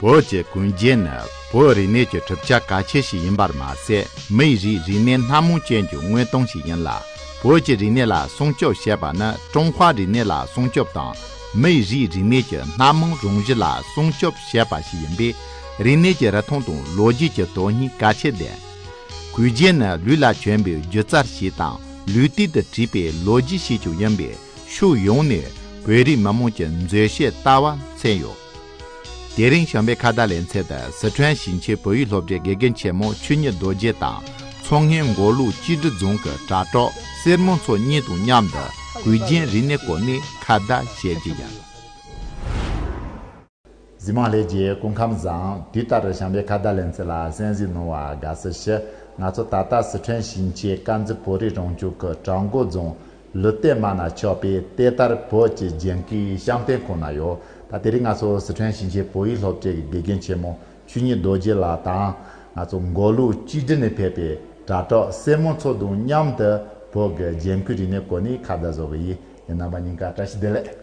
བོད་ཀྱི་དགུན་རྒྱན་ནི་བོད་རིག་གནས་ཀྱི་གྲུབ་ཆ་གལ་ཆེ་ཞིག་ཡིན་པར་མ་ཟད་མིའི་རིགས་རིག་གནས་སྣ་མང་ཅན་གྱི་དངོས་སྟངས་ཤིག་ཡིན་ལ། བོད་ཀྱི་རིག་གནས་ལ་སྲུང་སྐྱོབ་བྱེད་པ་ནི་ཀྲུང་ཧྭ་རིག་གནས་ལ་སྲུང་སྐྱོབ་དང་མིའི་རིགས་རིག་གནས་ཀྱི་སྣ་མང་རང་བཞིན་ལ་སྲུང་སྐྱོབ་བྱེད་པ་ཞིག་ཡིན་པས་རིག་གནས་ཀྱི་རིག་མཐོང་དང་ལོ་རྒྱུས་ཀྱི་དོན་སྙིང་གལ་ཆེ་ལྡན། གུས་རྒྱན་ནི་ལུས་ལ་གྱོན་པའི་སྒྱུ་རྩལ་ཞིག་དང་ལུས་སྟེང་དུ་བྲིས་པའི་ལོ་རྒྱུས་ཤིག་ཀྱང་ཡིན་པས་ཕྱོགས་ཡོངས་ནས་བོད་རིགས་མི་དམངས་ཀྱི་མཛེས་ཤོས་ལྟ་བ་མཚོན་ཡོད། དེ་རིང་ཞང་པའི་ཁ་བརྡ་ལེན་ཚད་དང་ཟི་ཁྲོན་ཞིང་ཆེན་བོད་ཡིག་སློབ་གྲྭའི་དགེ་རྒན་ཆེན་མོ་ཆོས་ཉིད་རྡོ་རྗེ་དང་མཚོ་སྔོན་མགོ་ལུག་སྤྱི་བདེ་རྫོང་གི་དྲ་གྲོགས་གསེར་མོ་མཚོ་གཉིས་དང་མཉམ་དུ་གུས་རྒྱན་རིག་གནས་སྐོར་ནས་ཁ་བརྡ་བྱས་རྗེས་ཀྱང། གཟིགས་མང་ལྷས་ཀྱིས་སྐུ་ཁམས་བཟང། དུས་ལྟར་རུ་ཞང་པའི་ཁ་བརྡ་ལེན་ཚད་ལ་གསན་གཟིགས་གནང་བར་དགའ་བསུ་ཞུ། ང་ཚོ་ད་ལྟ་ཟི་ཁྲོན་ཞིང་ཆེན་དཀར་མཛེས་བོད་རིགས་རང་སྐྱོང་ཁུལ་བྲག་མགོ་རྫོང་ལུས་རྟས་མ་ན་ཆོག་པས་དེ་ལྟར་བོད་ཀྱི་རྒྱན་གོས་བཤམ་སྟོན་ཁོ་ན་ཡོད་ད་དེ་རིང་ང་ཚོ་ཟི་ཁྲོན་ཞིང་ཆེན་བོད་ཡིག་སློབ་གྲྭའི་དགེ་རྒན་ཆེན་མོ་ཆོས་ཉིད་རྡོ་རྗེ་ལགས་དང་ང་ཚོ་མགོ་ལུག་གཅིག་སྒྲིལ་ནས་ཕེབས་པའི་དྲ་གྲོགས་སྲས་མོ་ཚོ་དང་མཉམ་དུ་བོད་ཀྱི་རྒྱན་གོས་རིག་གནས་སྐོར་ནས་ཁ་བརྡ་བཟོ་གི་ཡིན་ཡིན་ནམ་པ་ཉིན་ག་བཀྲ་ཤིས་བདེ་ལེགས།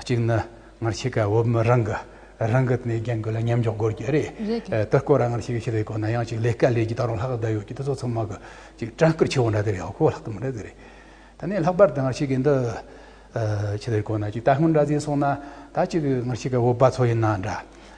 གཅིག་ནི་སྔར་ཕྱེད་ཀ་བོད་མི་རང་གི་རང་གི་ནས་རྒྱན་གོས་ལ་མཉམ་འཇོག་དགོས་ཀྱི་རེད་དེ་སྐོར་ར་སྔར་ཕྱེད་ཀ་ཕྱི་ལ་ཡོད་ཁོ་ན་ཡང་ཅིག་ལས་དཀའ་ལས་ཀྱི་ད་རུང་ལྷག་བསྡད་ཡོད་ཀྱི་དེ་ཚོ་ཚང་མ་གི་ཅིག་བྲང་ཁུར་ཆེ་བོ་འདྲ་དེ་རེད་ཨོ་ཁོ་ལྷག་ཏུ་མི་འདྲ་དེ་རེད། ད་ནས་ལྷག་པར་དུ་སྔར་ཕྱེད་ཀའི་འདི་ཕྱི་ལ་ཡོད་ཁོ་ན་ཅིག་ད་སྔོན་འདྲ་ཟིན་སོང་ན་ད་ཅིག་སྔར་ཕྱེད་ཀ་བོད་པ་ཚོ་ཡིན་ན་འདྲ་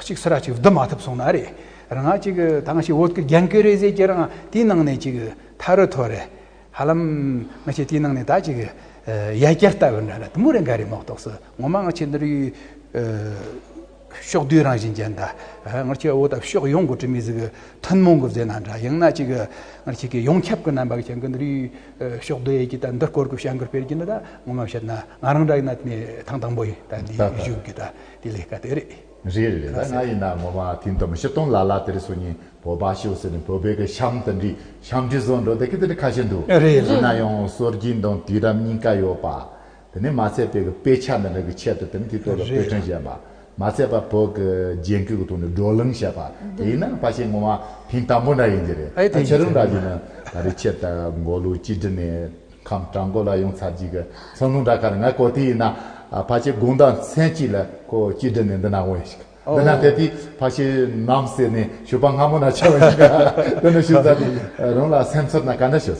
གཅིག་སུ་ར་གཅིག་བསྡུ་མ་ཐུབ་སོང་ན་རེད་རང་གཅིག་ད་ང་ཞིག་བོད་ཀྱི་རྒྱན་གོས་རེ་ཟེར་གྱི་རང་དེའི་ནང་ནས་ཅིག་ཐ་རུ་ཐོར་རེད་ཧ་ལམ་ང་ཆེ་དེའི་ནང་ནས་ད་ཅིག་ཡ་རྒྱལ་ལྟ་བུ་འདྲ་ན་དུམ་བུ་རེ་འགའ་རེ་མོག་ཐོག་སུ་ངོ་མ་ང་ཆེ་འདི་རུའི་ཕྱོགས་བསྡུས་རང་བཞིན་ཅན་འདྲ་ང་ཆེ་འོ་ད་ཕྱོགས་ཡོངས་གི་དྲི་མེད་ཟིག་ཐུན་མོང་གི་བཟོས་ན་འདྲ་ཡང་ན་ཅིག་ང་ཆེ་གི་ཡོངས་ཁྱབ་གི་རྣམ་པ་གི་ཞེན་གི་འདི་རུའི་ཕྱོགས་བསྡུ་ཡས་ཀྱི་ད་འདི་སྐོར་གི་བྱ་འགུལ་སྤེལ་གྱི་འདི་ད་ངོ་མ་བཤད་ན་ང་རང་འདྲ་ཡིན་ན་ཐང་དང་པོ་ཡིན་ད་འདིའི་གཞུག་གི་ད། དེ་ལས་ཀ་དེ་རེད། རེད་རེད་རེད་ད་ང་ཡིན་ན་ངོ་མ་དེ་འདོམས་ཤི་སྟོང་ལ་ལ་དེ་རི་སུ་ཉིན་བོད་པ་ཤི་བོ་ཟེར་ནས་བོད་པའི་གི་ཤམ་ད་འདྲི་ཤམ་འདྲི་བཟོ་འགྲོ་དེ་གི་དེ་འདྲི་ཁ་ཤས་འདུག་རེད་ཡིན་ན་ཡང་སོར་གྱི་འདང་དུས་རབས་གཉིས་ཀ་ཡོད་པ་དེ་ནི་མ་ཚད་པའི་གི་དཔེ་ཆ་འདི་འདྲ་གི་ཆེད་དུ་དེ་ནི་དེ་ལྟོས་ལ་དཔེ་ཕྲན་བཞེས་པ་མ་ཚད་པ་བོད་གི་རྒྱན་གོས་གི་ཐོག་ནས་བགྲོ་གླེང་བྱས་པ་དེ་ཡིན་ན་ཕ་ཤེས་ངོ་མ་ཕིང་དང་པོ་འདྲ་ཡིན་གྱི་རེད་ད་ཁྱེད་རང་འདྲ་གྱི་ནི་ད་རི་ཆེད་དུ་མགོ་ལུག་གཅིག་བསྒྲིལ་ནས། ཁམས་བྲག་མགོ་ལ་ཡོང་ཚར་རྗེས་ཀྱི་ཚོང་ལུང་འདྲ་ཁར་ང་གོ་དེ་ཡིན་ན་ཕ་ཆེ་དགུང་ཟླ་མཚན་གཅིག་ལ་ཁོ་སྐྱིད་སྒྲིལ་ནས་འདི་ན་འོངས་ཤིག་འདི་ན་དེ་དུས་ཕ་ཆེ་ནམ་ཟེར་ནས་ཞུ་བ་སྔ་མོ་ན་བྱ་བ་ཡིན་ཀ་དེ་ནི་ཞུ་ས་དེ་རང་ལ་སེམས་ཚོར་ན་ག་འདྲ་ཞུ།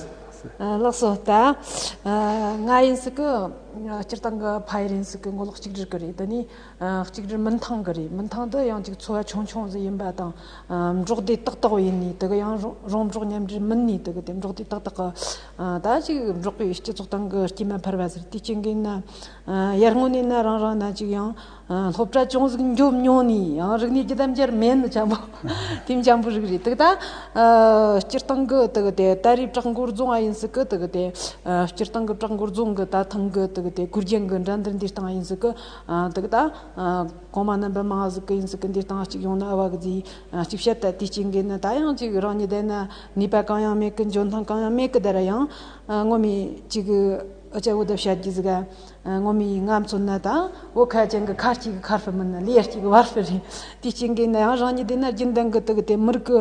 ལགས་སོ་ད་ང་ཡིན་སྲིད་ཀི་སྤྱིར་བཏང་གི་ཕ་ཡིར་ཡིན་སྲིད་ཀི་མགོ་ལོག་གཅིག་སྒྲིལ་གི་རེད་འདི་ནི་གཅིག་སྒྲིལ་མིན་ཐང་གི་རེད་མིན་ཐང་དུ་ཡང་ཅིག་འཚོ་བ་ཆུང་ཆུང་ཟིག་ཡིན་པ་དང་འབྲོག་སྡེ་ཏག་ཏག་ཡིན་ནི་དེ་གི་ཡང་རོང་འབྲོག་མཉམ་འབྲེལ་མིན་ནི་དེ་གི་དེ་འབྲོག་སྡེ་ཏག་ཏག་གི་ད་ཅིག་འབྲོག་པའི་སྤྱི་ཚོགས་སྟེང་གི་སྐྱེས་མ་འཕར་བ་ཟེར་དུས་སྐྱེ་འགན་ཡར་སྔོན་ནས་ནི་རང་རང་ན་ཅིག་ཡང་སློབ་གྲྭ་ཅུང་ཟིག་འཇོག་མྱོང་ནས་ཡང་རིག་གནས་ཀྱི་དམ་བཅར་མེད་ནི་བྱམས་པོ་དེ་འཇམ་པོའི་རིགས་རེད་དེ་ད་སྤྱིར་བཏང་གི་ད་རེས་བྲག་མགོར་རྫོང་ཨ་ཡིན་སྲིད་གི་སྤྱིར་བཏང་གི་བྲག་མགོར་རྫོང་གི་ད་ཐེངས་ཀྱི་གུར་རྒྱན་གྱི་འདྲ་འདི་འདིར་བཏང་ཡིན་སྲིད་གི་གོང་མ་རྣམ་པ་མང་ཟིག་གི་ཡིན་སྲིད་གི་འདིར་བཏང་གཅིག་ཡོང་ན་དབའ་གི་རྫིས་ཅིག་བཤད་དེ་དེའི་སྐྱེ་འགན་ནི་ད་ཡང་ཅིག་རང་ཉིད་བསྡད་ན་ནུས་པ་གང་ཡང་མེད་ཀི་འཇོན་ཐང་གང་ཡང་མེད་ཀི་དེར་ཡང་ངོ་མི་ཅིག་གི་སྐྱེ་བོ་དེ་བཤད་རྒྱུ་ཟིག་ངོ་མི་ང་མཚོན་ན་ད་བོད་ཁ་ཅན་གི་ཁར་ཅིག་ཁར་བུ་མིན་ན་ལེ་ཡར་ཅིག་བར་བུ་རེད་དེའི་སྐྱེ་འགན་ནི་ཡང་རང་ཉིད་བསྡད་ན་རྒྱུན་ལྡན་གི་དུག་དེ་མི་རིགས་ཀི་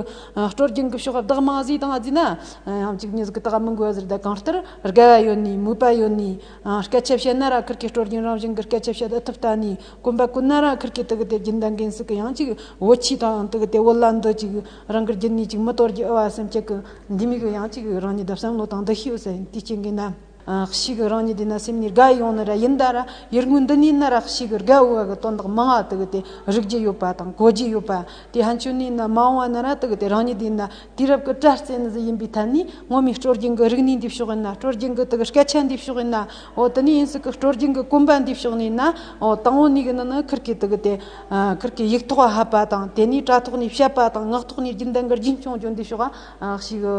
སྤྲོ་རྒྱུན་གི་ཕྱོགས་བདག་མང་བཟོས་དང་བཟོས་ན་ཡང་ཅིག་མྱི་ཟིག་གི་དག་མི་འགོས་ཟེར་དེ་གང་ལྟར་དགའ་བ་ཡོད་ནི་མོས་པ་ཡོད་ནི་སྐད་ཆ་བཤད་ན་ར་ཁུར་གི་སྤྲོ་རྒྱུན་རང་བཞིན་གི་སྐད་ཆ་བཤད་ཨི་ཐུབ་ད་ནི་དཀོན་པ་ཀུན་ན་ར་ཁར་གྱི་དུག་གི་དེ་རྒྱུན་ལྡན་གན་སུ་གི་ཡང་ཅིག་བུ་ཆུའི་དང་དུག་གི་དེ་བུ་ལ་འདོད་ཅིག་རང་གི་རྒྱུན་ནི་ཅིག་མི་དོར་རྒྱུ་ཨེ་བ་སེམས་བསྐྱེད་ཀྱི་འདི་མིག་གི་ཡང་ཅིག་རང་ཉིད་བསམ་བློ་དང་འདི་ཤེས་བསལ་དེ་སྐྱེ་གི་ན་རག་ཤི་གི་རང་ཉིད་དེ་ན་སེམས་ནི་རྒ་ཡི་ཡོང་ནི་ར་ཡིན་ད་ར་ཡུལ་དངོས་འདི་ནི་ན་རག་ཤི་གི་རྒ་འོ་བ་གི་དོན་དག་མང་བ་དུག་གི་དེ་རིག་རྒྱུ་ཡོད་པ་དང་གོ་རྒྱུ་ཡོད་པ་དེ་ཧན་ཅུ་ནི་ན་མང་བ་ན་ར་དུག་གི་དེ་རང་ཉིད་དེ་ན་དུས་རབས་ཀྱི་སྤྲ་རྩེ་ནི་གཟི་ཡིན་པའི་ཐད་ནས་ངོ་མའི་སྤྲོ་རྒྱུན་གྱི་རིག་གནས་འདུས་ཕྱོགས་ཡིན་ན་སྤྲོ་རྒྱུན་གྱི་དག་སྐད་ཆ་འདུས་ཕྱོགས་ཡིན་ན་འོ་དེ་ནས་ཡིན་སྲིད་ཀྱི་སྤྲོ་རྒྱུན་གྱི་གོམ་པ་འདུས་ཕྱོགས་ནས་ཡིན་ན་འོ་དང་བོ་ནས་གི་ནི་ནི་ཁིར་གི་དག་གི་དེ་ཁིར་གི་ཡིག་ཐོག་ཧ་པ་དང་དེ་ནས་སྤྲ་ཐོག་ནས་བཤད་པ་དང་ངག་ཐོག་ནས་རྒྱུན་ལྡན་གྱི་རྒྱུན་སྐྱོང་རྒྱུ་འདུས་ཕྱོགས་ཨ་ཞིག་གི་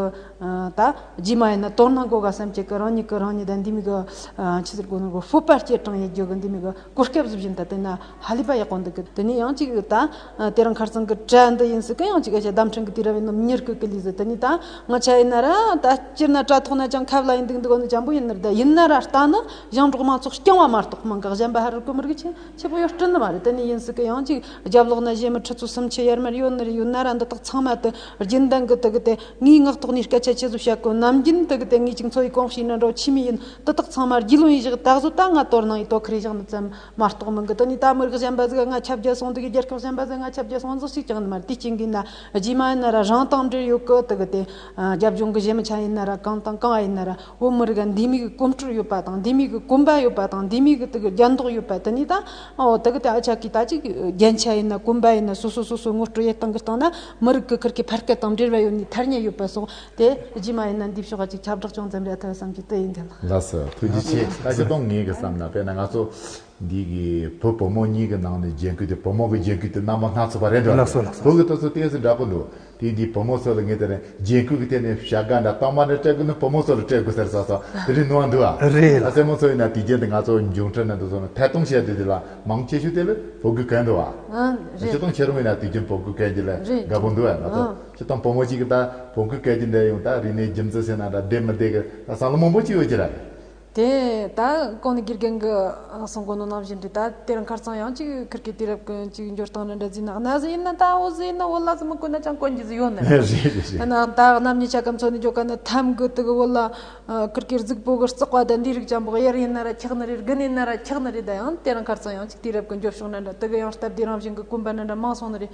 ད་རྗེས་མ་ཡིན་ན་དོར་སྣང་གོ་ག་སེམས་བསྐྱེད་ཀྱི་རང་ཉིད་ཀྱི་རང་ཉིད་ད་འདི་མིག་གི་ཕྱི་ཟུར་གོ་ནོར་གྱི་སྤོབས་པ་སྐྱེད་གྲང་ཡིད་དགོས་གི་འདི་མིག་གི་གོ་སྐབས་གཟུགས་བཞིན་དུ་བསྟེན་ན། ཧ་ལས་པ་ཡག་པོ་འདུག་གི་དེ་ནས་ཡང་གཅིག་ད་དེ་རང་ཁར་ཚང་གི་གྲལ་འདི་ཡིན་སྲིད་གི་ཡང་གཅིག་ཨེ་ཤེ་ལྡམ་ཕྲན་གི་དུས་ར་བའི་ནུབ་ཉེར་དགུ་གི་ལུས་ཟེར་དེ་ནི་ད་ང་ཆ་ཡིན་ན་ར་ད་སྤྱིར་ན་དྲ་ཐོག་ན་ཅང་ཁ་བ་ལ་ཡིན་འདུག་འདི་གོ་ནི་བྱམས་པོ་ཡིན་ནི་རེད་ད་ཡིན་ན་ར་ལྟ་ན་ཞང་འབྲོག་མང་ཚོགས་རྐྱང་བ་མ་གཏོགས་མང་ག་གཞན་པ་ཧ་རུ་ཀུ་མུར་གི་ཆེ་ཆེ་པོ་ཡོད་བཀྲིན་ནི་མ་རེད་དེ་ནི་ཡིན་སྲིད་གི་ཡང་གཅིག་རྒྱབ་ལོག་ན་གཞས་མི་ཁྲི་ཚོ་སུམ་ཆི་ཡར་མར་ཡོད་ནི་རེད་ཡོད་ན་ར་འདི་དག་ཚང་མ་དུ་རྒྱུན་ལྡན་གི་དུ་གི་དེ་ངའི་ངག་ཐོག་ནས་སྐད་ཆ་ཆེ་བཟོ་བྱ་དགོས་ནམ་རྒྱུན་དུ་གི་དེ་ངས་གཅིག་འཚོ་ཡི་གོང་ཞིག་ནི་འགྲོ་ཆི་མི་ཡིན་དུ་དག་ཚང་མ་རྒྱུས་ལོན་ཡི་བཞག་ད་གཟོད་ད་ང་དོར་སྣང་ཡི་དོ་ཁུར་ཡི་བཞག་ནི་བརྩམས། མ་གཏོགས་མི་འགུལ་དུ་ནས་ད་མི་རིགས་གཞན་པ་ཟིག་ང་ཁྱབ་རྒྱ་སོང་འདུག་རྒྱལ་ཁབ་གཞན་པ་ཟིག་ང་ཁྱབ་རྒྱ་སོང་འདུག་ཞིག་ཀྱང་མི་དེ་གཅིག་འགུལ་ན་རྗེས་མ་ཡིན་ན་ར་རང་དང་འབྲེལ་ཡོད་ཀི་དག་དེ་རྒྱབ་ལྗོངས་ཀི་གཞན་མི་ཆ་ཡིན་ན་ར་གང་དང་གང་ཡིན་ན་ར་བོད་མི་རིགས་འདི་མིག་གོམ་སྤྲོད་ཡོད་པ་དང་འདི་མིག་གོམ་པ་ཡོད་པ་དང་འདི་མིག་གི་དག་རྒྱ་འདོག་ཡོད་པ་དེ་ནས་ད་འོ་དག་དེ་ཨ་ཅག་གི་ད་ཅིག་རྒྱན་ཆ་ཡིན་ན་གོམ་པ་ཡིན་ན་སོ་སོ་སོ་སོའི་ངོ་སྤྲོད་ཡེ་སྟང་གི་སྟང་ན་མི་རིགས་ཀི་ཁུར་ཁི་ཕར་སྐད་དང་འབྲེལ་བ་ཡོད་ནས་ཐར་ཉེ་ཡོད་པ་སོགས་དེ་རྗེས་མ་ཡིན་ན་འདི་ཕྱོགས་ཁ་ཅིག་ཁྱབ་བསྒྲགས་ཅུང་ཙམ་རེ་ཐོས་བསམ་གྱི་དོད་ཡིན་དེ་ལ། ལགས་སོ། ཐུགས་རྗེ་ཆེ། ད་ཆ་སྟོང་ངེས་ཀྱི་བསམ་ན་དཔེར་ན་ང་ཚོ་འདི་གི་བུ་བུ་མོ་གཉིས་ཀྱི་ནང་ནས་རྒྱན་གོས་དེ་བུ་མོ་གི་རྒྱན་གོས་དེ་རྣམ་པ་སྣ་ཚོགས་པ་རེད་འགྲོ་བ་རེད། བོད་ཀྱི་སྟོད་ཚོ་གཏན་སུ་འདྲ་པོ་འདུག་དེ་འདི་བུ་མོ་ཚོ་ལ་ངེས་དེ་རེད་རྒྱན་གོས་ཀྱི་ཐད་ནས་བྱ་དགའ་འདྲ་རྟགས་མ་འདྲ་སྤྲད་དགོས་ན་བུ་མོ་ཚོ་ལ་སྤྲད་དགོས་ཟེར་ས་སོགས་དེ་རིང་ནུ་བ་འདུག་ཨ། རེད་ལགས། སེར་མོ་ཚོ་ཡིན་ན་དུས་རྒྱན་དེ་ང་ཚོ་འབྱུང་འཕྲལ་ནང་དུ་བཟུང་ནས་ཐད་གཏོང་བྱས་དུས་དེ་ལ་མང་ཆེ་ཤོས་དེ་ལ་བོད་གོས་གལ་འདུག་ཨ། རེད། ཕྱི་གཏོང་བྱེད་རུང་ཡིན་ན་དུས་རྒྱན་བོད་གོས་གལ་འདི་ལས་རེད་འདྲ་པོ་འདུག་ཨ། ཁྱེད་དང་བུ་མོ་གཅིག་གི་ད་བོང་གུ་སྐད་ཀྱི་འདྲེ་ཡོང་ད་རིག་ནས་རྒྱུ་མཚན་ཟེར་ན་ད་བསྡད་མི་བསྡད་གི་ད་སང་ལོ་མང་པོ་གཅིག་ཡོད་ཀྱི་ར། དེ་ད་གང་ནས་དགེ་རྒན་གི་གསུང་གོ་ནོར་གནང་བཞིན་འདུག་ད་དེར་མཁར་ཚང་ཡང་གཅིག་ཁིར་གི་དུས་རབས་ཀུན་གཅིག་འགྱུར་སྟངས་རེད་འདྲ་བཟི་ན་གནའ་བཟི་ཡིན་ན་ད་འོ་བཟི་ཡིན་ན་འོ་ལ་བཟི་མི་དགོས་ན་ཅང་དཀོན་གྱི་བཟི་ཡོད་ནི་རེད། རེད་རེད་རེད། ཡིན་ན་ད་གནམ་གཉིས་ཆ་གམ་མཚོ་ནི་འགྱོ་ག་ནི་ཐམ་གུ་དུ་གི་འོ་ལ་ཁིར་གིར་གཟུགས་པོ་གི་རྩག་བ་ད་འདིའི་རིགས་ཅང་བག་ཡར་ཡིན་ན་ར་འཁྱག་ནི་རེད་དགུ་ནི་ཡིན་ན་ར་འཁྱག་ནི་རེད་ད་ཡང་དེར་མཁར་ཚང་ཡང་གཅིག་དུས་རབས་ཀུན་འགྱོ་ཕྱོགས་ན་འདྲ་དུ་གི་ཡང་སྟབས་བདེ་རང་བཞིན་གི་དཀོན་པ་ན་འདྲ་མང་སོང་ནི་རེད།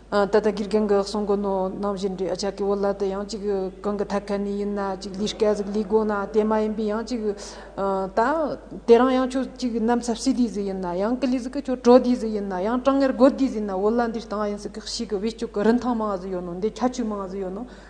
ད་ལྟ་དགེ་རྒན་གྱི་གསུང་གི་ནོར་རྣམས་བཞིན་འདྲི་བྱ་གི་འོག་ལ་དེ་ཡང་གཅིག་གང་གི་ཐད་ཀ་ནས་ཡིན་ན་གཅིག་ལུས་སྐལ་གཟུགས་ལུས་སྒོ་ན་དེ་མ་ཡིན་པའི་ཡང་གཅིག་ད་དེ་རང་ཡང་ཁྱོད་གཅིག་གི་གནམ་ས་བསིལ་དུས་སུ་ཡིན་ན་ཡང་ཀི་ལུས་སྐུ་ཁྱོད་བྲོ་དུས་སུ་ཡིན་ན་ཡང་གྲང་ངར་རྒོད་དུས་སུ་ཡིན་ན་འོ་ལ་འདི་ལྟ་བ་ཡིན་ཟེར་གྱི་གཤིས་ཀྱི་བེད་སྤྱོད་ཀྱི་རིན་ཐང་མང་བ་ཟིག་ཡོད་ནོ་འདི་ཁྱད་ཆོས་མང་བ་ཟིག་ཡོད་ནོ།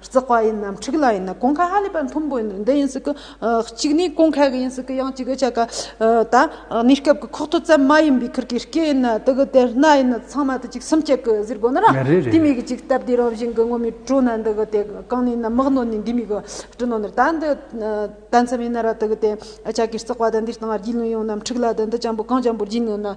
བརྩེགས་པ་ཡིན་ནམ་འཁྲིགས་ལ་ཡིན་ན་གོང་ཁ་ཧ་ལས་པ་མཐོན་པོ་ཡིན་འདི་ཡིན་ཟིག་གི། གཅིག་ནི་གོང་ཁ་གི་ཡིན་ཟིག་གི་ཡང་གཅིག་གི་ཆ་ག། ད་གནས་སྐབས་ཀྱི་ཁོག་ཐོ་ཙམ་མ་ཡིན་པའི་ཁུར་གྱི་སྐེ་ཡིན་ན་དེ་གི་དེར་སྣ་ཡིན་ན་ཚང་མ་དེ་གཅིག་སུམ་བརྒྱ་གི་ཟེར་དགོས་ན་རང་དེ་མིན་གི་ཅིག་སྟབས་བདེའི་རང་བཞིན་གི་ངོ་མི་སྤྲོ་ན་འདི་གི་དེ་གང་ནས་ཡིན་ན་མག་ནོར་ནས་འདི་མིན་གི་སྤྲོ་ནོར་ནོར་ད་འདི་ད་མཚམས་ཡིན་ན་ར་དེ་གི་དེ་ཆ་གིས་བརྩེགས་པ་ད་འདིར་བཏང་བར་རྒྱུས་ལོན་ཡོང་ནམ་འཁྲིགས་ལ་ད་འདི་ཅང་པོ་གང་ཅང་པོར་རྒྱུས་ལོན་ན།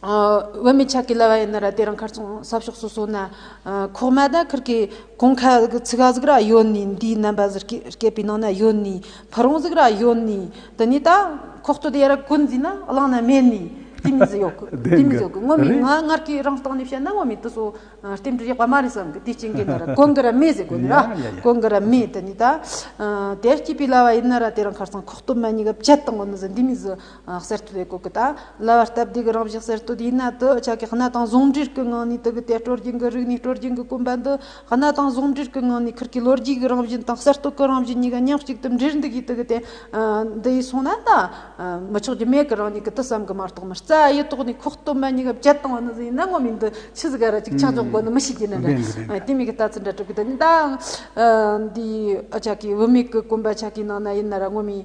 བུད་མེད་ཆགས་ཀྱི་ལྭ་བ་ཡིན་ན་ར་དེ་རང་ཁར་ཚོང་གསབ་ཤོག་སོ་སོ་ན་ཁོག་མ་ད་ཁུར་གི་གོང་ཁ་ཚིག་ག་ཟིག་ར་ཡོད་ནི་འདིའི་རྣམ་པ་ཟིག་སྐད་པའི་ནང་ན་ཡོད་ནི་ཕ་རོང་ཟིག་ར་ཡོད་ནི་དེ་ནས་ད་ཁོག་སྟོད་ཡར་བཀོད་འཛིན་ན་བླངས་ན་མེད་ནི་དེ་མི་ཟི་ཡོག་གི་དེ་མི་ཟི་ཡོག་གི་ངོ་མི་ང་སྔར་གྱི་རང་སྟངས་ནས་བཤད་ན་ངོ་མི་དེ་སོ་རྟེན་འབྲེལ་ཡག་པ་མ་རེད་བསམ་གི་དེ་སྐྱེ་མཁན་ད་ར་གོང་གི་ར་མེད་ཟེར་དགོས་ནི་ར་གོང་གི་ར་མེད་དེ་ནས་ད་དེར་སྐྱེས་པའི་ལྭ་བ་ཡིན་ན་ར་དེ་རང་ཁར་ཚོང་ཁོག་སྟོད་མ་ཉིད་ག་བཅད་དང་ངོ་མི་ཟི་འདི་མི་ཟི། གསར་གཏོད་པའི་གོ་སྐབས་དང་ལྭ་བ་སྟབས་བདེ་གི་རང་བཞིན་གསར་གཏོད་དེའི་ནང་དུ་ཆ་ཀས་སྣ་དང་ཟུང་འབྲེལ་གྱི་ངང་ནས་དུག་གི་དལ་སྤྲོ་རྒྱུན་གྱི་རིག་གནས་སྤྲོ་རྒྱུན་གྱི་གོམ་པ་འདི་སྣ་དང་ཟུང་འབྲེལ་གྱི་ངང་ནས་ཁུར་གྱི་ལོ་རྒྱུས་ཀྱི་རང་བཞིན་དང་གསར་གཏོད་ཀྱི་རང་བཞིན་གཉིས་ཀ་མཉམ་གཅིག་ཏུ་འདྲེས་འདུག་གི་དུག་གི་དལ་འདི་ཡིས་སོང་ན་ད་མི་ཆོག་རྒྱུ་མེད་ཀི་རང་ཉིད་ཀྱི་དུ་བསམ་གི་མ་གཏོགས་མི་རྩ་ཡི་ཐོག་ནས་ཁོག་སྟོད་མ་ཉིད་ཀྱི་བྱེད་སྟངས་འདི་ཡིན་ན་ངོ་མི་འདི་ཆི་ཟིག་ག་ར་ཅིག་ཆག་ཆོག་དགོས་ནི་མི་ཤེས་ཀྱི་ནི་རེད་དེ་མིན་གི་ལྟ་ཚུལ་འདྲ་གྲུབ་གི་འདུག་ད་འདིའི་ཆ་ཀས་བུད་མེད་ཀྱི་གོམ་པ་ཆ་ཀའི་ནང་ན་ཡིན་ན་ར་ངོ་མི་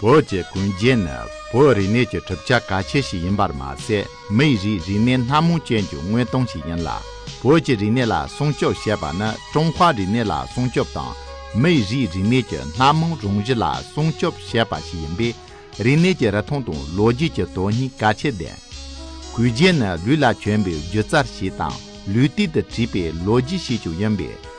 བོད་ཀྱི་གོན་རྒྱན་ནི་བོད་རིག་གནས་ཀྱི་གྲུབ་ཆ་གལ་ཆེ་ཞིག་ཡིན་པར་མ་ཟད་མིའི་རིགས་རིག་གནས་སྣ་མང་ཅན་གྱི་དངོས་སྟངས་ཤིག་ཡིན་ལ་བོད་ཀྱི་རིག་གནས་ལ་སྲུང་སྐྱོབ་བྱེད་པ་ནི་ཀྲུང་ཧྭ་རིག་གནས་ལ་སྲུང་སྐྱོབ་དང་མིའི་རིགས་རིག་གནས་ཀྱི་སྣ་མང་རང་བཞིན་ལ་སྲུང་སྐྱོབ་བྱེད་པ་ཞིག་ཡིན་པས་རིག་གནས་ཀྱི་རིག་མཐོང་དང་ལོ་རྒྱུས་ཀྱི་དོན་སྙིང་གལ་ཆེ་ལྡན། གོས་རྒྱན་ནི་ལུས་ལ་གྱོན་པའི་སྒྱུ་རྩལ་ཞིག་དང་ལུས་སྟེང་དུ་བྲིས་པའི་ལོ་རྒྱུས་ཤིག་ཀྱང་ཡིན་པས།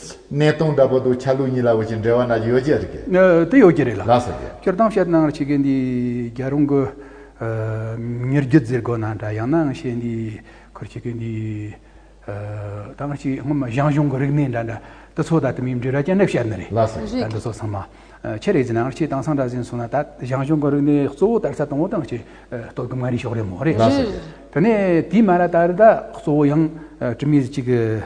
གནས་སྟངས་འདྲ་པོ་འདུག་ཆ་ལུགས་གཉིས་ལ་འོས་ཀྱི་འབྲེལ་བ་ན་ཡོད་ཀྱི་རེད་ཀྱི། དེ་ཡོད་ཀྱི་རེད་ལ། ལགས་སོ་ཀྱི། སྤྱིར་བཏང་བཤད་སྟངས་ཕྱི་རྒྱལ་འདི་རྒྱ་རོང་གི་མིར་རྒྱུད་འཛིར་དགོས་ན་འདྲ་ཡང་ནའང་བཤད་འདི་ཁུར་ཕྱི་རྒྱལ་འདི་ཐང་གཅིག་སྔོན་མ་ཞང་ཞུང་གི་རིག་གནས་འདྲ་འདྲ་འདི་ཚོ་ད་དུ་མིའི་འབྲི་ར་ཅན་ནས་བཤད་ནི་རེད། ལགས་སོ་ཀྱི། ད་འདི་ཚོ་ཚང་མ་ཁྱེད་རེ་ཟིན་ནའང་ཁྱེད་དེང་སང་འདྲ་ཟིན་སོང་ན་ད་ཞང་ཞུང་གི་རིག་གནས་གཙོ་བོ་དར་ས་དང་བོ་དང་ཁྱེད་གཏོར་གི་མ་རེད་ཤོག་རེད་མོ་རེད། ལགས་སོ་ཀྱི། དེ་ནས་དེའི་མ་ལ་ད་རི་ད་གཙོ་བོ་ཡང་དྲི་མེད་ཅིག་གི།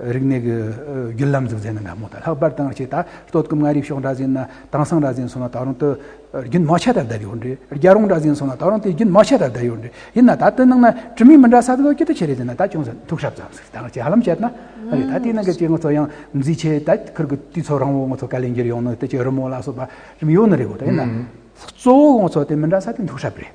རིག་གནས་ཀྱི་བརྒྱུད་ལམ་འཛུགས་མཛད་ནས་སྔ་མོ་དང་ལྷག་པར་དང་ཆེས་ད་སྟོད་ཀྱི་མངའ་རིས་ཕྱོགས་འདྲ་ཟིན་ན་དྭངས་སང་འདྲ་ཟིན་སོང་ན་ད་རུང་དུ་རྒྱུན་མ་ཆད་དར་བསྡད་ཡོད་འདྲི་རྒྱ་རོང་འདྲ་ཟིན་སོང་ན་ད་རུང་དེ་རྒྱུན་མ་ཆད་དར་བསྡད་ཡོད་འདྲི་ཡིན་ན་ད་དེ་ནང་ན་གྲུབ་མིན་མི་འདྲ་ས་དེ་ཚོ་སྐྱིད་དུ་ཆེ་རེ་ཟིན་ན་ད་ཅུང་ཟད་མཐུག་ཧྲབ་ཙམ་ཟེར་དང་ཆེས་ཧ་ལམ་བྱས་ན་རེད་ད་དེའི་ནང་གི་སྐྱེ་དངོས་ཚོ་ཡང་མཛེས་ཆེ་ད་ཁུལ་གྱི་དུས་ཚོ་རང་བོ་ངོ་ཚོ་ཀ་ལེ་འགྱུར་ཡོང་ནི་དེ་ཆེས་རི་མོ་ལ་སོགས་པ་རིམ་ཡོད་ནི་རེད་གོ་ད་ཡིན་ན་གཙོ་བོ་ངོ་ཚོ་དེ་མི་འདྲ་ས་དེ་མཐུག་ཧྲབ་རེད།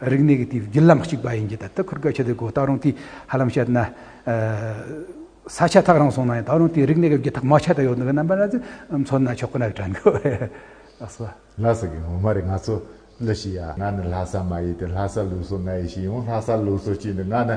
རིག་གནས་ཀྱི་དེའི་བརྒྱུད་ལམ་གཅིག་པ་ཡིན་གྱི་ད་ལྟ་ཁུར་བཀལ་བྱས་ཏེ་གོ་ད་རུང་དེ་ཧ་ལམ་བཤད་ན། ས་ཆ་ཐག་རིང་སོང་ན་ཡང་ད་རུང་དེའི་རིག་གནས་ཀྱི་བརྒྱུད་ཐག་མ་ཆད་དུ་ཡོད་འདུག་གི་རྣམ་པ་ན་མཚོན་ན་ཆོག་གི་ནའི་དྲན་གོ་ཨ་སོ། ལྷ་ས་ཀྱི་ངོ་མ་རེད་ང་ཚོ་ལི་ཤི་ཡ་ང་ནི་ལྷ་ས་མ་ཡིན་ཏེ་ལྷ་ས་ལུགས་སྲོལ་ང་ཡི་ཤི་ཡོང་ལྷ་ས་ལུགས་སྲོལ་གཅིག་འདི་ང་ནི་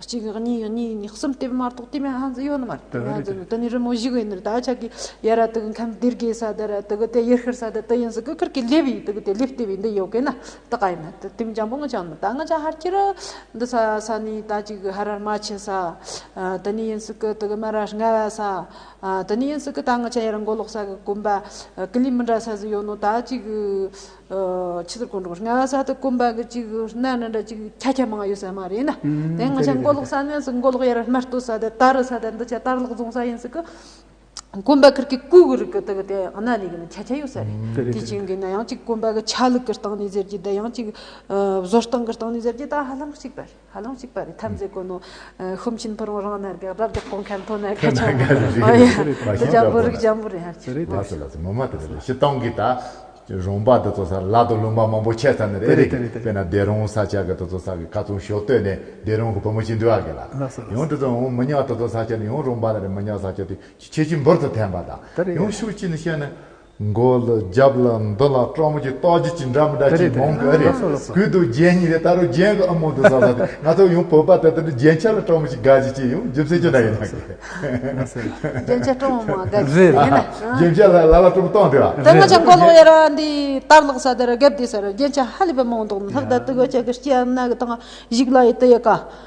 གཅིག་གཉིས་ཡོད་གཉིས་ཡོད་གསུམ་དེ་མ་གཏོགས་དེ་མ་ཧང་ཟིག་ཡོད་ནི་མ་རེད་དེ་མ་ཧང་ཟིག་ཡོད་དེ་ནི་རི་མོ་བཞི་གི་ནི་ད་ཆ་གི་ཡ་ར་དེ་གི་མཁན་དེར་གི་ས་དེ་ར་དེ་གི་དེ་ཡེར་ཤུར་ས་དེ་དེ་ཡིན་ཟིག་གི་ཁུར་གི་ལེབ་ཡིན་དེ་གི་དེ་ལེབ་ལྟེབ་ཡིན་དེ་ཡོད་གི་ན་ད་ག་ཡིན་ན་དེ་དེ་མི་འཇམ་པོ་ངོ་ཅང་ད་ང་ཅང་ཧར་གྱི་ར་འདི་ས་ས་ནི་ད་གཅིག་གི་ཧར་རར་མ་ཆེ་ས་དེ་ནི་ཡིན་ཟིག་གི་དེ་གི་མ་ར་སྔ་བ་ས་དེ་ནི་ཡིན་ཟིག་གི་ད་ང་ཅང་ཡ་ར་མགོ་ལོག་ས་གི་གོམ་པ་ཀི་ལི་མི་འདྲ་ས་ཟིག་ཡོད་ནོ་ད་གཅིག་གི། ཕྱི་དར་དཀོན་མཆོག་ལྔ་ས་དུ་དཀོན་པ་གི་གཅིག་གནའ་ནི་འདྲ་གཅིག་ཁྱ་ཁྱ་མང་ཡོད་ས་མ་རེད་ན། དེ་སྔ་ཆ་མགོ་ལོག་ས་གནས་སུ་མགོ་ལོག་ཡར་སྨད་སྟོད་ས་དེ་དར་ས་དེ་འདི་ཆ་དར་ལོག་རྫོང་ས་ཡིན་སྲིད་ཀི། དཀོན་པ་ཁིར་གི་སྐུ་གི་རིགས་གི་དེ་གི་དེ་གནའ་ནས་གི་ནི་ཁྱ་ཁྱ་ཡོད་ས་རེད། དེ་བྱིངས་གི་ན་ཡང་གཅིག་དཀོན་པ་གི་ཆ་ལུགས་གི་སྟངས་ནས་ཟེར་གྱི་དེ་ཡང་གཅིག་བཟོ་སྟངས་གི་སྟངས་ནས་ཟེར་གྱི་ད་ཧ་ལམ་གཅིག་པ་རེད། ཧ་ལམ་གཅིག་པ་རེད་ཐམས་ཅད་དཀོན་ནོ། ཤོམ་ཆེན་ཕུ་རོང་རང་སྣར་ག་རབ་རྒྱག་པོ་མཁན་ཐོ་ནར་ག་ཆོང་བོ། འདི་འཇམ་པོ་རིགས་འཇམ་པོ་རེད་ཧ་ཅང་བ། ལས་སོ་ལས་སོ་མོ་མ་དེ་རེད་ཤི་སྟོང་གི་ད། རོང་པ་དེ་ཚོ་ས་ལ་དུ་ལུང་པ་མང་པོ་ཆད་ས་ནི་རེད་རེད་གི་དཔེ་ན་སྡེ་རོང་ས་ཆ་གི་དེ་ཚོ་ས་གི་ཁ་ཚོང་ཞོ་བཏོད་ནས་སྡེ་རོང་གི་བུ་མོ་ཅི་འདུལ་བ་གི་ལ། ཡང་དེ་ཚོ་འོང་མི་ཉག་དེ་ཚོ་ས་ཆ་ནི་ཡང་རོང་པ་ལ་རེད་མི་ཉག་ས་ཆ་དེ་ཆེ་ཆེ་འབུར་དུ་འཐེན་པ་ད། ཡང་ཤུགས་ཅི་ནི་བཤད་ནི། མགོ་ལ་རྒྱབ་ལ་མདུན་ལ་སྤྲང་པོ་ཀྱི་ལྟོ་རྒྱུད་ཅི་འདྲ་མི་འདྲ་ཅི་མང་གི་རེད། གུད་དུ་རྒྱན་གཉིས་རེད་ད་རུང་རྒྱན་གྱི་ཨ་མོ་འདི་ཟ་ཟ་དེ་ང་ཚོ་ཡང་བོད་པ་དེ་ལྟར་རྒྱན་ཆ་ལ་སྤྲང་པོ་ཅིག་དགའ་ཅིག་ཅིག་ཡང་རྒྱུ་མཚན་ཅི་འདྲ་ཡིན་ནམ་གྱི། རྒྱན་ཆ་སྤྲང་བོ་མང་དགའ་ཅིག་ཅིག་ཡིན་ན། རྒྱན་ཆ་ལ་ལ་ལ་སྤྲང་པོ་སྟོང་དེ་བ། དེ་སྔ་ཆ་མགོ་ལོག་ཡ་ར་འདི་ལྟར་ལག་ས་དེ་ར་རྒད་དེ་ཟེར་རྒྱན་ཆ་ཧ་ལས་པའི་མང་འདུག་ལྷག་དར་དུ་གོ་ཆ་གི་སྐྱེ་ཡ་ན་གི་དང་གཞུག་ལ་ཡི་དི་ཡི་ཀ་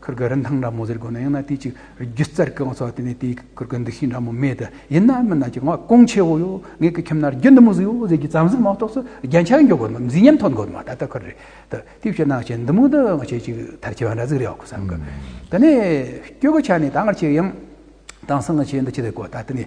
གུར་གུ་རིན་ཐང་འདྲ་མོ་ཟེར་དགོས་ན་ཡང་ན་དེའི་ཅིག་རྒྱུ་རྩར་གང་ཚོགས་དེ་ནས་དེའི་གུར་གུ་འདུ་ཤེས་འདྲ་མོ་མེད་དེ་ཡིན་ན་མི་ནག་ཅིག་ངག་ཀུང་ཆེ་བོ་ཡོད་ངེད་ཀྱི་ཁྱིམ་ན་རྒྱུ་འདི་མོ་ཟིག་ཡོད་ཟེར་གྱི་བརྩམས་ཟིན་མ་གཏོགས་སུ་རྒྱན་ཆ་འཇོག་དགོས་མ་མཛེས་ཉམས་ཐོན་དགོས་མ་ད་ལྟ་ཁུར་རེད་དེ་དེ་བྱས་ན་ཅན་འདི་མོ་འདི་ང་ཆེ་ཅིག་དར་ཆེ་བ་འདྲ་ཟིག་རེད་ཨོ་བསམ་གི་དེ་ནས་སྐྱོ་གུ་ཆ་ནས་ད་ང་ཆེ་ཡང་དང་སང་ང་ཆེ་འདི་ཆེ་ཟེར་དགོས་ད་དེ་ནས་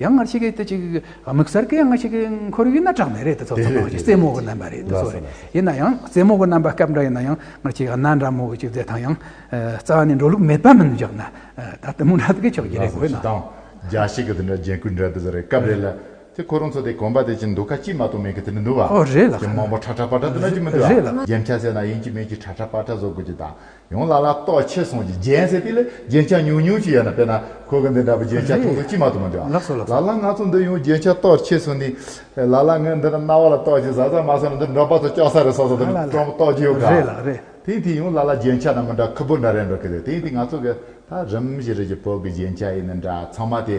ཡང་སྔར་ཕྱི་གའི་དུས་གཅིག་དམིགས་བསལ་གྱིས་སྔར་ཕྱི་གའི་ཁོར་ཡུག་ན་གྲགས་མེད་རེད་དེ་ཚོ་ཚང་མ་རྩེད་མོ་གི་རྣམ་པ་རེད་དེ་ཚོ་རེད་ཡིན་ན་ཡང་རྩེད་མོ་གི་རྣམ་པ་སྐབས་འདྲ་ཡིན་ན་ཡང་སྔར་ཕྱི་ག་ན་འདྲ་མོ་གཅིག་རྩེད་དང་ཡང་རྩ་བ་ནས་འགྲོ་ལུགས་མེད་པ་མིན་འཇགས་ན་ད་དུ་མུ་འདྲ་དགོས་ཆོག་གི་རེད་དགོས་ན། རྒྱ་ཞིག་གི་དེ་འདྲ་རྒྱན་གོས་འདྲ་དེ་ཚོ་རེད་སྐབས་རེ་ལ་དེ་ཁོ་རང་ཚོ་དེ་གོམ་པ་དེ་ཅིག་འདུག་ཁ་ཅིག་མ་གཏོགས་མེད་གི་དེ་འདྲ་འདུག་བ། རེད་ལགས། ཀྱི་མང་པོ་ཁྲ་ཁྲ་པ་ཁྲ་དེ་འདྲ་ཅིག་མི་འདུག་བ། རྒྱན་ཆ་ཟེར་ན་ཡིན་གྱི་མིན་གྱི་ཁྲ་ཁྲ་པ་ཁྲ་བཟོ་དགོས་ཀྱི་དང་ཡང་ལ་ལ་ལྟོགས་ཆེ་སོང་ཅིག་རྒྱན་ཟེར་དེ་ལས་རྒྱན་ཆ་ཉུང་ཉུང་ཅིག་ཡོད་ན་དཔེར་ན་ཁོ་གི་འདི་འདྲ་བུ་རྒྱན་ཆ་ཐུང་ཐུང་ཅིག་མ་གཏོགས་མི་འདུག་ཨ། ལ་ལ་ང་ཚོ་འདི་ཡང་རྒྱན་ཆ་ལྟོགས་ཆེ་སོང་ནི། ལ་ལ་ངས་འདི་འདྲ་རྣ་བ་ལ་ལྟོགས་ཅིག་ཟ་ཟ་མ་ཟ་ནི་འདི་འབྲོག་པ་ཚོ་སྐྱོག་ས་རེད་སོགས་སོགས་དེ་འདྲ་ལྟོགས་ཀྱི་ཡོད་ག། དེང་དུས་ཡང་ལ་ལ་རྒྱན་ཆ་རྣམས་མི་འདྲ་ཁུ་བུར་འདྲ་རེད་འགྲོ་གི་རེད་དེང་དུས་ང་ཚོ་གི་ད་རིམ་བཞིན་རེད་ཀྱི་བོད་ཀྱི་རྒྱན་ཆ་ཡིན་ནི་འདྲ་ཚང་མ་དེ།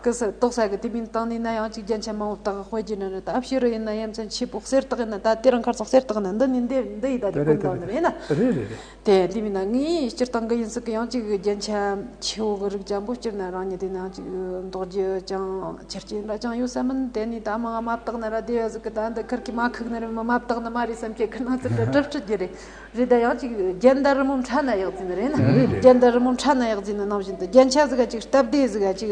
སྐུ་སྲི་ཏོག་ས་གི་དེ་མིན་དང་ནི་ན་ཡང་གཅིག་རྒྱན་ཆ་མང་བོ་དག་དཔེ་བརྒྱུད་ན་ནི་ད་ཕྱི་རུ་ཡིན་ན་ཡ་མཚན་ཆེས་པོ་གསེར་དག་ཡིན་ན་ད་དེ་རང་ཁར་སོགས་གསེར་དག་ནི་འདི་ནི་འདི་འདི་ཡི་ད་དེ་ཀུན་བཏགས་ནི་མེད་ན། དེ་དེ་མིན་ན་ངའི་སྤྱིར་བཏང་གི་ཡིན་ཟིག་གི་ཡང་གཅིག་རྒྱན་ཆ་ཆེ་བོ་གི་རིགས་ཅང་པོ་སྤྱིར་ན་རང་ཉིད་དེ་ན་ཡང་གཅིག་འདོགས་རྒྱུ་ཅང་ཆེར་སྐྱེས་འདྲ་ཅང་ཡོད་ས་མིན་དེ་ནི་ད་མ་ང་མ་བཏགས་ན་ར་དེ་ཡོད་ཟིག་གི་ད་འདི་ཁར་གི་མ་ཁུག་ནི་རི་མི་མ་བཏགས་ནི་མ་རི་སེམས་ཁྱེད་ཁུ་ནང་ཚུད་འདྲ་དྲི་ཁྲི་རྒྱུ་རེད། རེད་ད་ཡང་ཅིག་རྒྱན་ད་རི་མོ་འཕྲ་ན་ཡག་ཛི་ན་རེད་ན་རྒྱན་ད་རི་མོ་འཕྲ་ན་ཡག་ཛི་ན་ནང་བཞིན་དུ་རྒྱན་ཆ་ཟི་ག་ཅིག་སྟབས་བདེ་ཟི་ག་ཅིག་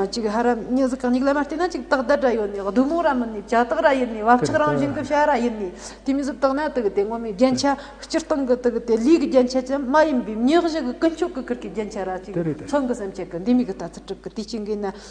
ཅིག་ཧ་ར་མྱི་ཟི་ག་མྱིག་ལ་མ་བལྟས་ན་ཅིག་སྟག་ད་ར་ཡོད་ནི་བདུད་མོ་ར་མིན་ནི་བྱ་སྟག་ར་ཡིན་ནི་བབ་ཆག་རང་བཞིན་གི་བྱ་ར་ཡིན་ནི་དེ་མི་ཟི་བཏགས་ན་དག་དེ་ངོ་མའི་རྒྱན་ཆ་སྤྱིར་བཏང་གི་དག་དེ་ལུས་ཀྱི་རྒྱན་ཆ་ཅན་མ་ཡིན་པའི་མྱིག་བཞི་གི་ཀུན་སྤྱོད་ཀྱི་ཁུར་གྱི་རྒྱན་ཆ་ར་ཅིག་མཚོན་གི་སེམས་བསྐྱེད་གི་འདི་མི་གི་ལྟ་ཚུལ་དྲུག་གི་དུས་གཅིག་འགའི་ན་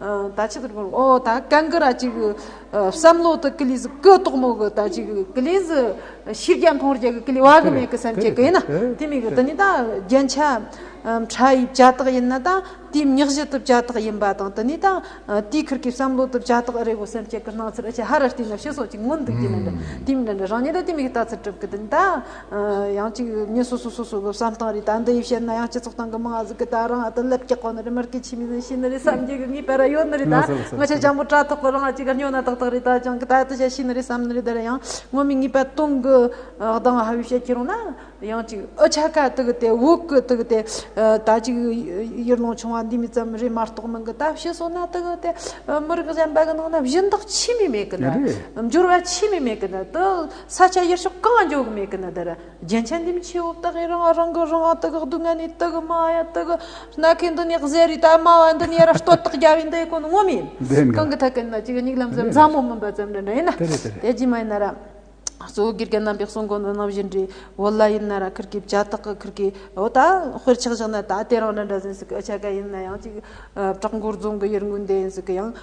ད་ཅི་ཐུབ་ཨོ་ད་གན་གི་ར་ཅིག་བསམ་བློ་དུ་ཀི་ལི་ཟི་ཀི་ཏོག་མོ་གི་ད་ཅིག་ཀི་ལི་ཟི་ཤིས་རྒྱ་མཐོང་རྒྱ་གི་ཀི་ལི་བ་གི་མེ་གི་སེམས་ཅེ་གི་ཡིན་ན་དེ་མེ་གི་དེ་ནི་ད་རྒྱན་ཆ་ཕྲ་ཡི་བྱ་ཐག་ཡིན་ན་ད་དེའི་མྱག་བཞི་དུ་བྱ་ཐག་ཡིན་པ་དང་དེ་ནི་ད་དེའི་ཁུར་གི་བསམ་བློ་དུ་བྱ་ཐག་རེ་བོ་སེམས་ཅེ་གི་སྣང་ཚུལ་ཨ་ཅེ་ཧ་ར་ཏི་ན་ཕྱི་སོགས་ཀྱི་མངོན་འདུག་དེ་མེ་གི་དེ་མེ་གི་རང་ཉིད་ད་དེ་མེ་གི་ད་ཚུར་གྲུབ་གི་དེ་ནི་ད་ཡང་ཅིག་ངས་སོ་སོ་སོ་སོ་གི་བསམ་སྟངས་རེད་ད་འདི་ཡིས་བཤད་ན་ཡང་སྤྱི་ཚོགས་སྟེང་གི་མི་ང་ཟིག་གི་ད་རང་ཨ་ཏི་ལེབ་རྒྱག་གོ་ནི་རེད་མར་ཁེ་ཆི་མི་ནི་ཤི་ནི་རེད་བསམ་རྒྱུ་གི་ངའི་བལ་ར་ཡོད་ནི་རེད་ད་ང་ཆ་ཆང་པོ་དྲ་ཐོག་གི་རང་ཨ་ཅིག་ག་སྨྱོ་ན་ཏག་ཏག་རེད་ད་ཅང་གི་ད་ཨ་ཏི་བྱ་ཤི་ནི་རེད་བསམ་ནི་རེད་དེ་ལ་ཡང་ངོ་མི་ངའི་བལ་སྟོང་གི་གདང་ང་ཧ་བས་བཤད་ཀྱི་རུང་ན་ཡང་ཅིག་ཨི་ཆ་ག་ཏི་གི་དེ་འུག་གི་ཏི་གི་དེ་ད་ཅིག་ཡུལ་ལུང་ཆུང་བ་འདི་མི་ཙམ་རེད་མ་གཏོགས་མི་གི་ད་བཤད་སོང་ན་ཏི་གི་དེ་མི་རིགས་གཞན་པ་གི་ནང་ན་བཞིན་བདག་ཆི་མི་མེད་གི་ན་འབྱོར་བ་ཆི་མི་མེད་གི་ན་ཏི། ས་ཆ་ཡེར་ཤོག་གང་འགྱོ་གི་མེད་གི་ནི་དེར་རྒྱན་ཆ་འདི་མི་ཆེ་བོ་བཏགས་ཡིན་རང་ཨ་རང་གི་རང་ཨ་དགག་སྡུག་བསྔལ་ནི་དགག་དམའ་བ་ཡང་དགག་སྣ་ཁའི་འདུ་ནེག་གཟེར་རིས་དག་དམའ་བ་འདི་ནི་ར་སྟོད་དག་རྒྱ་བའི་འདི་ཡི་གོ་ནི་ངོ་མི་ཡིན་གང་གི་ཐད་ཀི་ནི་གཅིག་ཉིག་ལམ་ཟེར་མཛའ་མོ་མིན་པ་ཙམ་འདྲ་འདྲ་ཡིན་ན་དེ་རྗེས་མ་ཡིན་ན་ར་གཙོ་བོ་དགེ་རྒན་རྣམ་པའི་གསུང་གོ་འདི་ནང་བཞིན་འདྲི་བོ་ལ་ཡིན་ན་ར་ཁིར་གི་བྱ་དག་གི་ཁིར་གི་འོ་ད་དཔེར་ཆགས་བཞག་ན་ད་དེ་རང་འདྲ་འདྲ་ཟིན་སི་གི་ཨི་ཆ་ག་ཡིན་ན་ཡང་གཅིག་བྲག་མགོར་རྫོང་གི་ཡུར་དངུལ་འདི་ཡིན་སི་གི་ཡང།